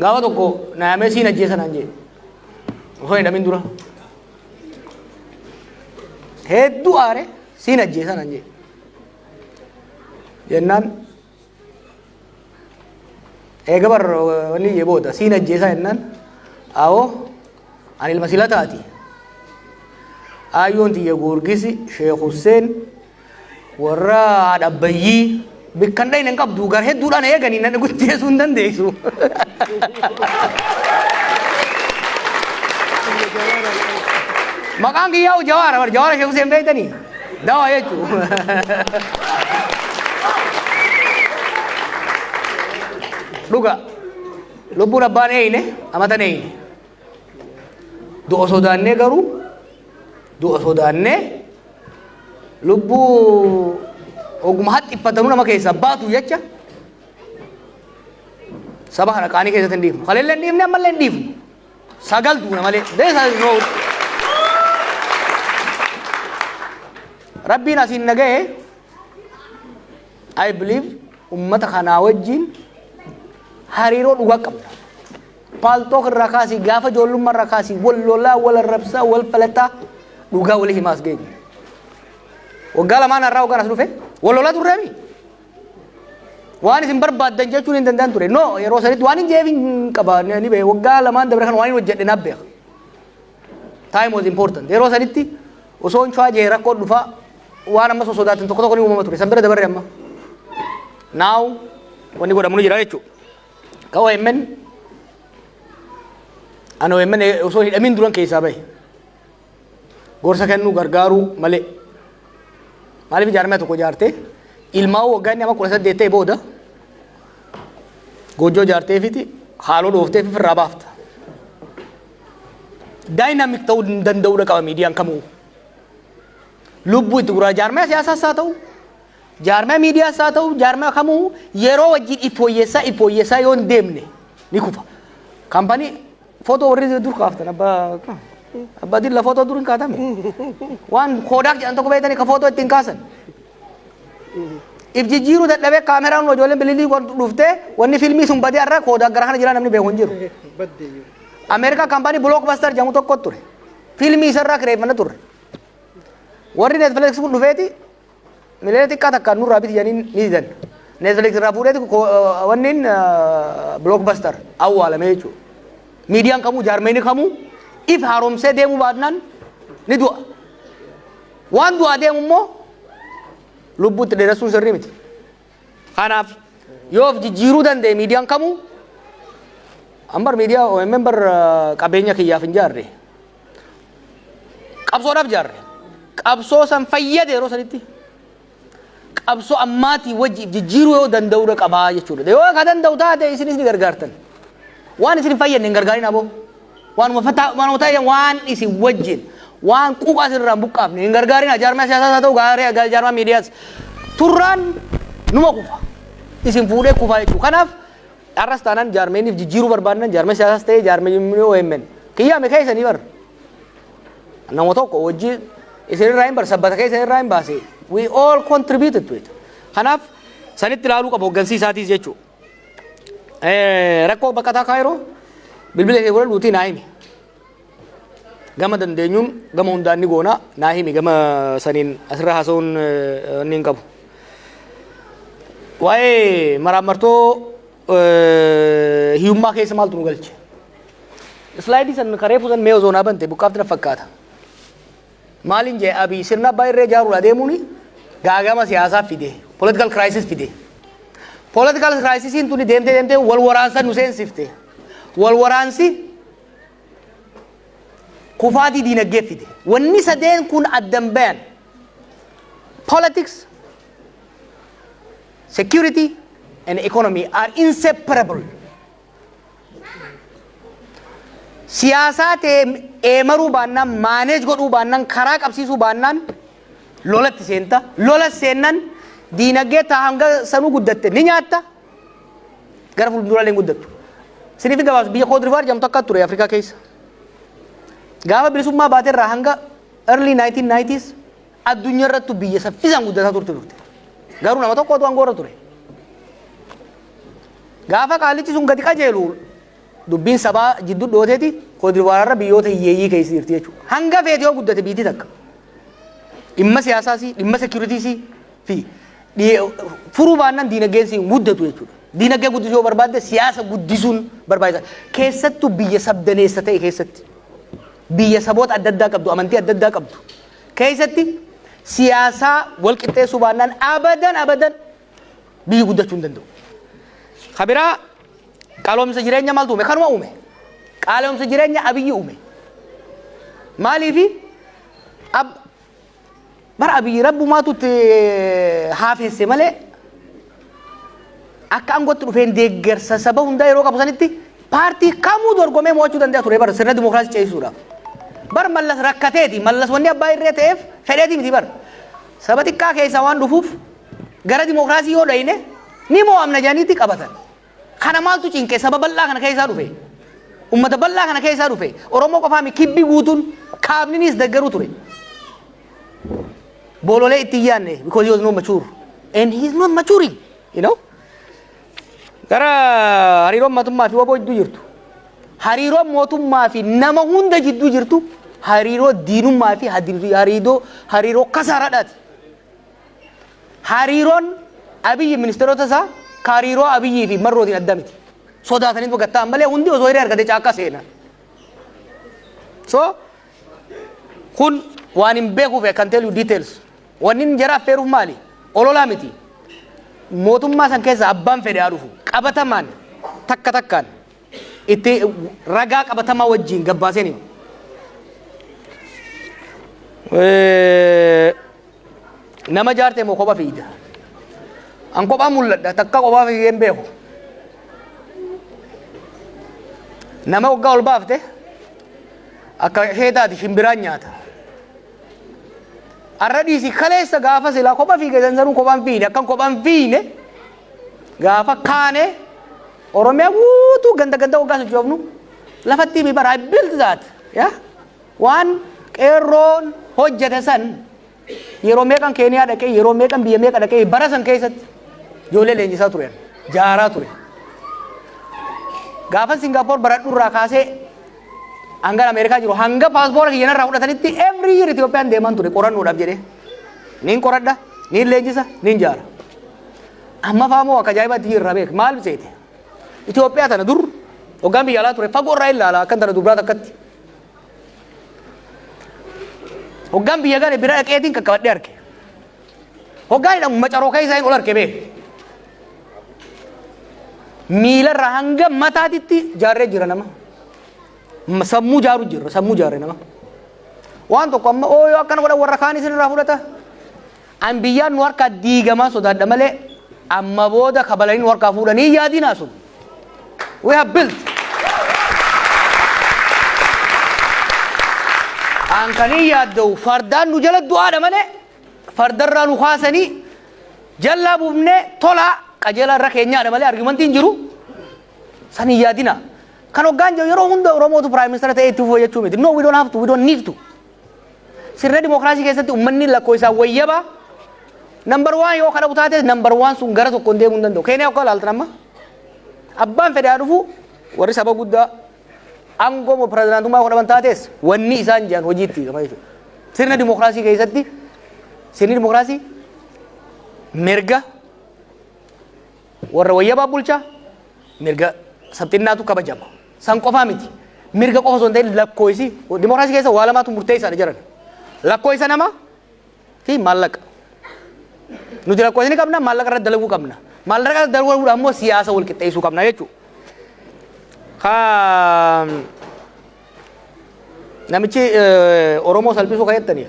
Gaafa tokko na yaamee siin ajjeesa naan jee. Osoo hin dhamin dura. Hedduu aare siin ajjeesa naan jee. Jennaan eega bar wanni jee booda siin ajjeesa jennaan awoo ani ilma sila taati. Aayyoon tiyya Goorgisi Sheekh Husseen Warra haadha abbayyii bikkan dhayne hin qabdu gar hedduudhaan eeganii na guddeessuu hin dandeessu. Maqaan kiyyaa jawaara bar jawaara sheeku seen beektanii dawaa jechuun. Dhuga lubbuun abbaan eeyne amatan eeyne. du'a sodaannee garuu du'a sodaannee lubbuu oguma haxxiffatanuu nama keessaa baatu jecha saba kana qaanii keessatti hin dhiifnu. Kaleellee hin dhiifne ammallee hin dhiifnu. Sagal duuna malee. Deesa noo. Rabbiin asiin naga'e I believe ummata kanaa wajjin hariiroo dhugaa qabna. Paltok irraa kaasii gaafa ijoollumma irraa kaasii wal lolaa wal arrabsaa wal falaxaa dhugaa walii himaa as geenye. Waggaa lamaan har'aa waggaan as dhufe wal lolaa turree mi? Waan isin barbaaddan jechuun hin danda'an ture. No yeroo sanitti waan hin jeef hin qaba ni beeku waggaa lamaan dabre kan waan hin hojjedhe naaf beeka. Time was important. Yeroo sanitti osoo hin chaajee rakkoo dhufaa waan ammas osoo sodaatan tokko tokko ni uumama ture. San bira dabarre amma. Now wanni godhamu ni jira jechuudha. Ka OMN an OMN osoo hidhamiin duran keessaa bahe gorsa kennuu gargaaruu malee maaliif ijaarame tokko ijaarte ilmaa waggaa inni amma kudha saddeet ta'e booda goojjoo ijaarteefiti haaloo dhoofteef ofirraa baafta. Daayinaamik ta'uu hin danda'udha qaba miidiyaan kamuu. Lubbuu itti guraa jaarmaya siyaasaas haa ta'u Jaarmaya miidiyaas haa ta'u jaarmaya kamuu yeroo wajjin itti woyyeessaa itti woyyeessaa yoo hin deemne ni kufa. Kampanii footoo warri dur kaaftan abbaa abbaa dilla footoo dur hin kaatame. Waan koodaak jedhan tokko beektanii ka footoo ittiin kaasan. If jijjiiruu dadhabee kaameraan ijoolleen bililii wan dhuftee wanni filmii sun badee har'a koodaak gara kana jira namni beeku hin jiru. Ameerikaa kampanii Blockbuster jedhamu tokko ture. Filmii isarraa kireeffana turre. Warri Netflix kun dhufeeti Miliyoona xiqqaa takka nurraa biti jedhanii ni didan. Netflix irraa fuudheeti wanniin blockbuster awwaalame jechuudha. Miidiyaan kamuu jaarmeeni kamuu if haaromsee deemuu baadnaan ni du'a. Waan du'aa deemu immoo lubbuutti dheeressuun sirrii miti. Kanaaf yoo of jijjiiruu danda'e miidiyaan kamuu ambar miidiyaa OMN bar qabeenya kiyyaaf hin jaarre. qabsoodhaaf jaarre qabsoo san fayyade yeroo sanitti qabsoo ammaatii wajji jijjiiruu yoo danda'uudha qabaa jechuudha yoo ka danda'u taate isinis ni gargaartan waan isin hin fayyadne hin gargaarin aboo waanuma fataa waanuma ta'e waan isin wajjin waan quuqaa isin irraa hin buqqaafne hin gargaarin jaarmaa siyaasaa haa ta'u gaarii gaarii jaarmaa miidiyaas turraan numa kufa isin fuudhee kufaa jechuudha kanaaf Har'as taanaan jaarmeenif jijjiiruu barbaadnan jaarmee siyaasaas ta'ee jaarmeenni OMN kiyyaame keessanii bar. Nama tokko wajji isinirraa hin bar sabbata keessanirraa hin baase. We all contributed to it. Kanaaf sanitti ilaaluu qaba hoggansii isaatiis jechuu. Rakkoo baqataa kaayiroo bilbila kee godhadhuutii naa himi. Gama dandeenyuun gama hundaan ni goona. Naa himi gama saniin asirra haasa'uun eh, inni hin qabu. Waa'ee maraammartoo eh, hiyyummaa keessa maaltu nu galche? Islaayidii san kareefu san mee osoo naa bante buqqaafti na fakkaata. Maaliin jee abii sirna abbaa irree ijaaruun adeemuun gaagama siyaasaa fide, political crisis fide. Political crisisiin tuni deemtee deemtee wal waraansa nu seensifte. Wal waraansi kufaatii diinagdee fide. Wanni sadeen kun addan bayan politics, security and economy are inseparable. Siyaasaa ta'e eemaruu baannaan, maaneej godhuu baannaan, karaa qabsiisuu baannaan lolatti seenta. Lola seennan diinagdee taa hanga sanuu guddatte ni nyaatta. Gara fuulduraalee hin guddattu. Siniif hin gabaabsu biyya Koodirivaar jedhamtu akka ture Afrikaa keessa. Gaafa bilisummaa baate irraa hanga early 1990s addunyaa irrattu biyya saffisaan guddataa turte turte. Garuu nama tokko otoo angoorra ture. Gaafa qaalichi sun gadi qajeelu dubbiin sabaa jidduu dhooteeti Koodirivaar irra biyyoota hiyyeeyyii keessa jirti jechuudha. Hanga feete yoo guddate biitii takka. Dhimma siyaasaas, dhimma seekiyuritiis, fi dhiye- furuu baannaan diinagdeen si hin guddatu jechuudha. Diinagdee guddisuu yoo barbaadde siyaasa guddisuun barbaachisa. Keessattuu biyya sabdaneessa ta'e keessatti biyya saboota adda addaa qabdu amantii adda addaa qabdu keessatti siyaasaa wal qixxeessuu baannaan abadan abadan biyyi guddachuu hin danda'u. Kabiraa qaaloomsa jireenya maaltu uume? Kanuma uume. Qaaloomsa jireenya abiyyi uume. Maaliifi? Ab- Bar Abiy rabbumaatu itti haafeesse malee akka aangootti dhufeen deeggarsa saba hundaa yeroo qabu sanitti paartii kamuu dorgomee mo'achuu danda'a ture bar sirna dimookiraasii ceesisuudhaaf. Bar mallas rakkateeti mallas wanni abbaa irree ta'eef fedheeti miti bar. Saba xiqqaa keessaa waan dhufuuf gara dimookiraasii yoo dhayne ni mo'amna jedhaniiti qabatan. Kana maaltu cinqe saba bal'aa kana keessaa dhufe? Ummata bal'aa kana keessaa dhufe. Oromoo qofaa mi kibbi guutuun kaabniniis deggeruu ture. Boololee itti hin yaadne because he was not mature and he is not maturing you know. Gara hariiroon mootummaa fi waboo jidduu jirtu. Hariiroon mootummaa fi nama hunda jidduu jirtu hariiroo diinummaa fi hariiroo hariiroo kasaaraadhaati. Hariiroon Abiyyi ministeerota isaa ka hariiroo Abiyyii fi Marrootiin adda miti. Sodaatanii baqatta'an malee hundi osoo hiree argatee caakkaa seenan. So kun waan hin beekuuf I can tell you details. Wanni inni jara affeeruuf maali? Ololaa miti. Mootummaa san keessa abbaan fedhe haa dhufu. Qabatamaan takka takkaan. itti ragaa qabatamaa wajjiin gabbaaseen hima. Nama jaartee moo kopha fiigda? An kophaa mul'adha takka kophaa fiigee hin beeku. Nama waggaa ol baafte akka ishee taati shimbiraan nyaata. Arra dhiisi kaleessa gaafa silaa kopha fiige sansanuu kophaan fiine akkan kophaan fiine Gaafa kaane Oromiyaa guutuu ganda ganda waggaa sochoofnu lafatti himi bara I built that. Yeah? Waan qeerroon hojjete san yeroo meeqan Keeniyaa dhaqee yeroo meeqan biyya meeqa dhaqee bara san keessatti ijoollee leenjisaa ture jaaraa ture. Gaafa Singaapoor baradhu irraa kaasee hanga Ameerikaa jiru hanga paaspoora kiyyan irraa fudhatanitti every year Itoophiyaan deeman ture qorannoodhaaf jedhee. Niin qoradha, niin leenjisa, niin jaara. Ammafaa moo akka ajaa'ibaatti irraa beek maal seete? Itoophiyaa tana dur hoggaan biyya alaa ture fagoo irraa ilaala akkan tana dubraa takkatti. Hoggaan biyya gale bira dhaqeetiin qaqqabadhee arge. Hoggaan hidhamu macaroo keessaa hin ol arge bee. Miilarraa hanga mataatitti jaarree jira nama. M- Sammuu jaaru jira sammuu jaarree nama. Waan tokko amma ooyoo akkana godhan warra kaan isin irraa fudhata. An biyyaan nu harkaa diigamaa sodaadha malee amma booda kabalanii nu harkaa fuudhanii hin yaadinaa sun. We have built. An kan hin yaadda'u fardaan nu jala du'aadha malee fardarraa nu kaasanii jallaa buufnee tolaa qajeelaa irra keenyaadha malee argumentii hin jiru. San hin yaadinaa. Kan hoggaan jiru yeroo hunda Oromootu Prime Minister ta'ee itti fufuu jechuu miti. No, we don't have to, we don't need to. Sirna dimookiraasii keessatti ummanni lakkoofsaan wayyaba nambar waan yoo kadhabu taates nambar waan sun gara tokkoon deemuu hin danda'u. Keeniyaa akka ilaaltan amma abbaan fedhaa dhufu warri saba guddaa aangoo moo pirezidaantummaa yoo dhaban taates wanni isaan jiran hojiitti gama jechuudha. Sirna dimookiraasii keessatti sirni dimookiraasii mirga Warra wayyabaaf bulchaa mirga sabxinnaatu kabajama. San qofaa miti. Mirga qofa osoo hin ta'in lakkooysi dimokiraasii keessa waa lamaatu murteessaadha jedhan. Lakkooysa namaa fi maallaqa. Nuti lakkooysa ni qabna, maallaqa irratti dalaguu qabna. Maallaqa irratti dalaguudhaan immoo siyaasa wal qixxeessuu qabna jechuudha. Ka namichi Oromoo salphisuu kan jettaniif.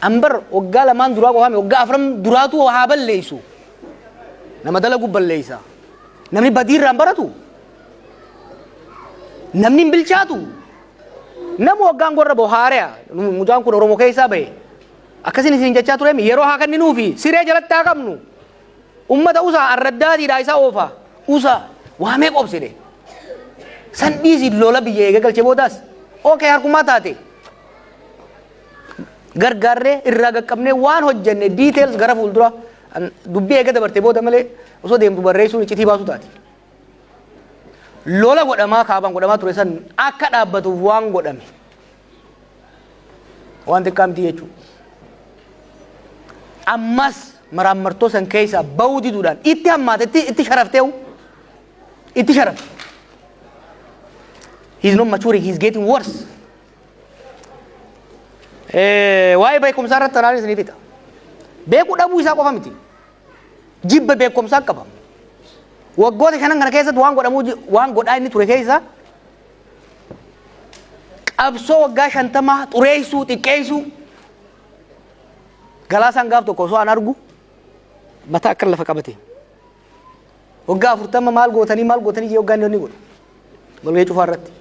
Ambar waggaa lamaan duraa qofaame waggaa afran duraatu haa balleessu. Nama dalagu balleessa. Namni badiirraan baratu. Namni hin bilchaatu. Nama waggaan gorra bohaare'a. Mucaan kun Oromoo keessaa bahe. Akkasiin isin jechaa ture yeroo haa kenninuufi siree jalatti haa qabnu. Ummata usa arraddaatiidhaa isa oofaa usa waa meeqa obsine san dhiisi lola biyya eega galche boodaas ok harkumaa taate gargaarree irraa gaqqabnee waan hojjenne details gara fuuldura an- dubbii eega dabarte booda malee osoo deemtu barreessuun iccitii baasuu taati. Lola godhamaa kaabaan godhamaa ture san akka dhaabbatuuf waan godhame. waan xiqqaa miti jechuudha. Ammas maraammartoo san keessaa ba'uu diduudhaan itti hammaate itti itti sharaftee itti sharafte. He is not maturing, he is getting worse. Eh, Waa'ee beekumsaa irratti tanaan isiniif hita. Beekuu dhabuu isaa qofa miti. Jibba beekumsaa qaba. Waggoota shanan kana keessatti waan godhamuu ji- waan godhaa inni ture keessaa qabsoo waggaa shantamaa xureessuu xiqqeessuu galaasaan gaaf tokko osoo an argu mataa akka lafa qabate waggaa afurtama maal gootanii maal gootanii jee waggaa inni godhu walgahii cufaa irratti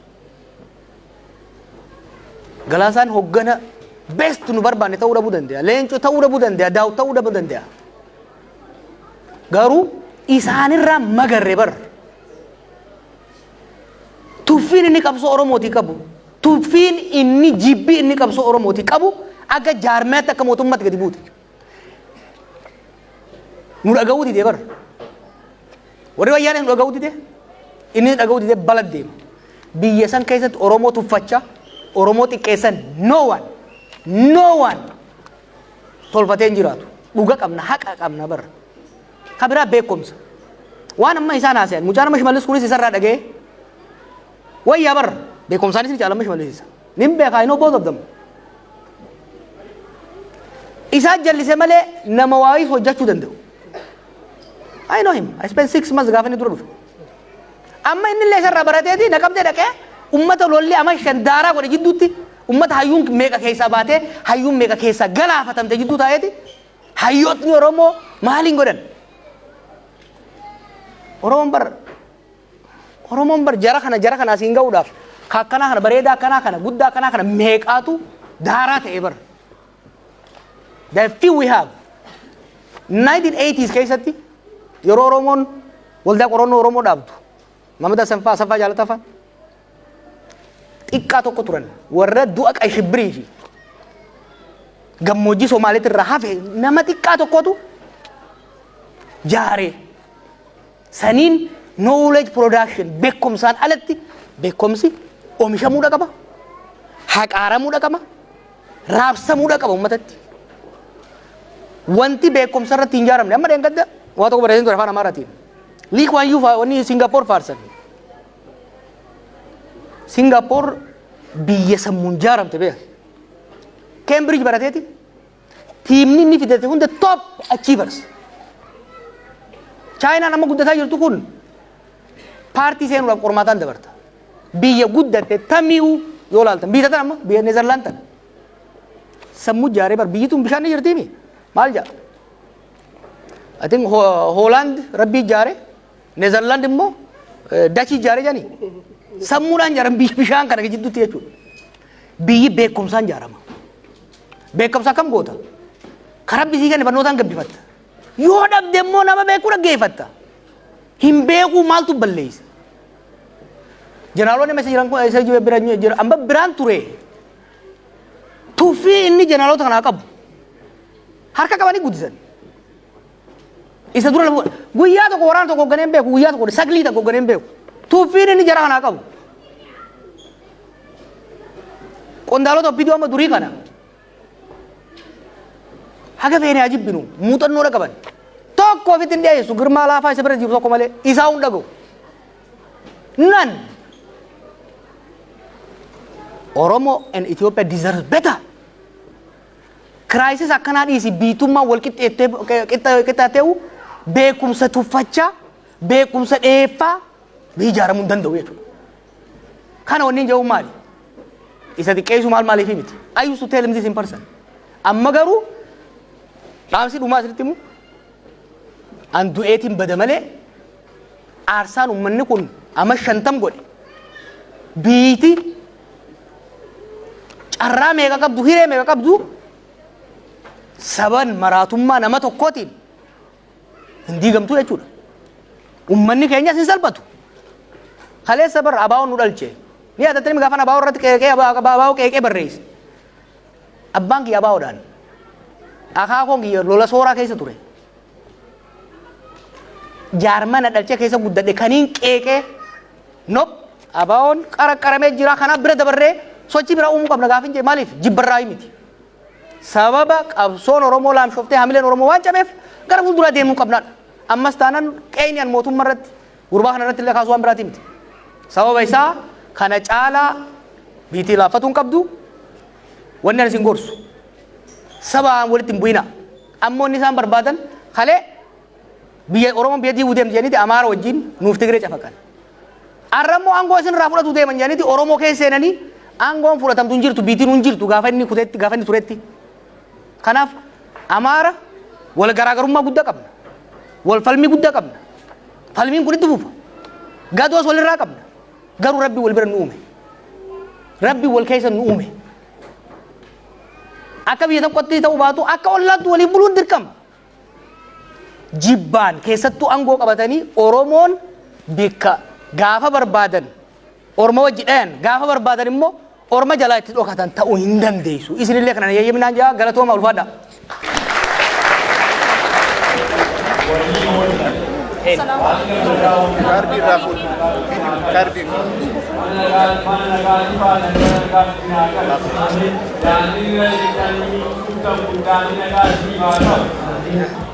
galaasaan hoggana best nu barbaanne ta'uu dhabuu danda'a leenco ta'uu dhabuu danda'a daaw ta'uu dhabuu danda'a garuu isaanirraa magarre barra Tuffiin inni qabsoo Oromootii qabu, tuffiin inni jibbi inni qabsoo Oromootii qabu akka jaarmayaatti akka mootummaatti gadi buute. Nu dhaga'uu didee bara. Warri wayyaanee nu dhaga'uu didee inni nu dhaga'uu didee bala deema. Biyya san keessatti Oromoo tuffachaa, Oromoo xiqqeessan no one, no one tolfatee hin jiraatu. Dhuga qabna, haqa qabna bara. Ka biraa beekumsa. Waan amma isaan haasayan. Mucaan amma shimallis kunis isarraa dhaga'ee. Wayyaa bar. Beekumsaanis ni caala amma shimallis isa. Nin beekaa I know both of them. Isaa jallise malee nama waayii hojjechuu danda'u. I know him. I spent six months gaafa inni dura dhufe. Amma inni illee isarraa barateeti naqamtee dhaqee ummata lolli amma shan daaraa godhe jidduutti ummata hayyuun meeqa keessaa baatee hayyuun meeqa keessaa galaafatamte jidduu taa'eeti Hayyootni Oromoo maaliin godhan? Oromoon bar Oromoon bar jara kana jara kana asiin ga'uudhaaf ka akkanaa kana bareedaa akkanaa kana guddaa akkanaa kana meeqaatu daaraa ta'e bar. The few we have 1980s keessatti yeroo Oromoon waldaa qorannoo Oromoo dhaabdu Mamad Asaffaa Asaffaa Jaalataffaa xiqqaa tokko turan warra du'a qayshibbirii fi gammoojjii Somaaliitti irraa hafe nama xiqqaa tokkotu jaaree saniin knowledge production beekumsaan alatti beekumsi oomishamuudha qaba haqaaramuudha qaba raabsamuudha qaba uummatatti wanti beekumsa irratti hin jaaramne amma dheengadda waa tokko barreessin ture afaan amaaraatiin liikwaan yuu wanni singapoor faarsan Singaapoor biyya sammuun jaaramte beekan. Keembriij barateeti tiimni inni fidate hunda toop achii barse. Chaayinaan amma guddataa jirtu kun paartii seenuudhaaf qormaataan dabarta. Biyya guddatte tamii'uu yoo laaltan biyya tana amma biyya Neezarlaan tana. Sammuu jaaree bar biyyi tun bishaan ni jirtiimi maal jaa? I think Hoolaand rabbii jaaree Nezerland immoo dachii ijaare jedhani sammuudhaan ijaaran bishaan kana gidduutti jechuudha. Biyyi beekumsaan ijaarama. Beekumsa akkam goota? Karaa bisii kana barnootaan gabbifatta. Yoo dhabde immoo nama beekuu dhaggeeffatta. Hin beekuu maaltu balleessa? Jeneraaloonni messa jiran kun isa bira jira amma biraan ture. Tuffii inni jeneraaloota kanaa qabu harka qabanii guddisan. Isa dura lafa guyyaa tokko waraana tokko hoogganee hin beeku guyyaa tokko saglii tokko hoogganee hin beeku. Tuuffiin inni jara kanaa qabu. Qondaalota obbidoo amma durii kana haga feene haa jibbinu muuxannoo dha qaban. Tokko ofitti hin dhiyeessu girmaa laafaa isa bira jiru tokko malee isaa hin dhaga'u. Nan Oromo and Ethiopia deserve better. Kiraayisis akkanaa dhiisi biitummaan wal qixxaatee'u beekumsa tuffachaa beekumsa dheeffaa ijaaramuu hin danda'u jechuudha. Kana wanni jedhu maali? Isa xiqqeessu maal maaliif miti? I used to tell him this in person. Amma garuu dhaamsi dhumaa isinitti himu an du'eetiin bada malee aarsaan ummanni kun amma shantam godhe biyyiti carraa meeqa qabdu hiree meeqa qabdu saban maraatummaa nama tokkootiin hin diigamtu jechuudha. Ummanni keenyas hin salphatu. Kaleessa barra abaawoon nu dhalche. Ni yaadattanii gaafan abaawoo irratti qeeqee abaawoo qeeqee barreesse. Abbaan kiyya abaawoodhaan. Akaakoon kiyya lola sooraa keessa ture. Jaarmana dhalcha keessa guddadhe kaniin qeeqee nop abaawoon qaraqqaramee jira kanaaf bira dabarree sochii biraa uumuu qabna gaafin jee maaliif jibbarraa miti. Sababa qabsoon Oromoo laamshoftee hamileen Oromoo waan cabeef gara fuulduraa deemuu qabnaadha. Ammas taanan qeeyni an mootummaa irratti Gurbaa kana irratti illee kaasuu waan biraatii miti. Sababa isaa kana caalaa biitii laaffatuu hin qabdu. Wanni ani isin gorsu. Sabaan walitti hin bu'ina. Ammoo inni isaan barbaadan kalee biyya Oromoon biyya diiguu deemti jedhaniiti Amaara wajjin nuuf Tigiree cafaqan. Arra immoo aangoo isin irraa fudhatu deeman jedhaniiti Oromoo keessa seenanii aangoon fudhatamtu hin jirtu biitiin hin jirtu gaafa inni kutetti gaafa inni turetti. Kanaaf Amaara wal garaagarummaa guddaa qabna. Wal falmii guddaa qabna. Falmiin kun itti fufa. Gadoos walirraa qabna. Garuu rabbi wal bira nu uume. Rabbi wal keessa nu uume. Akka biyya tokkotti ta'uu baatu akka ollaatti waliin buluun dirqama. Jibbaan keessattuu aangoo qabatanii Oromoon bakka gaafa barbaadan orma wajji dhayan gaafa barbaadan immoo orma jalaa itti dhokatan ta'uu hin dandeessu. Isinillee kana yayyaminaan jaa galatooma ulfaadha. Kaardii irraa fuudhu. Kaardii. Daandii irra jirtanii kutan kun daandii nagaa siif haa ta'u.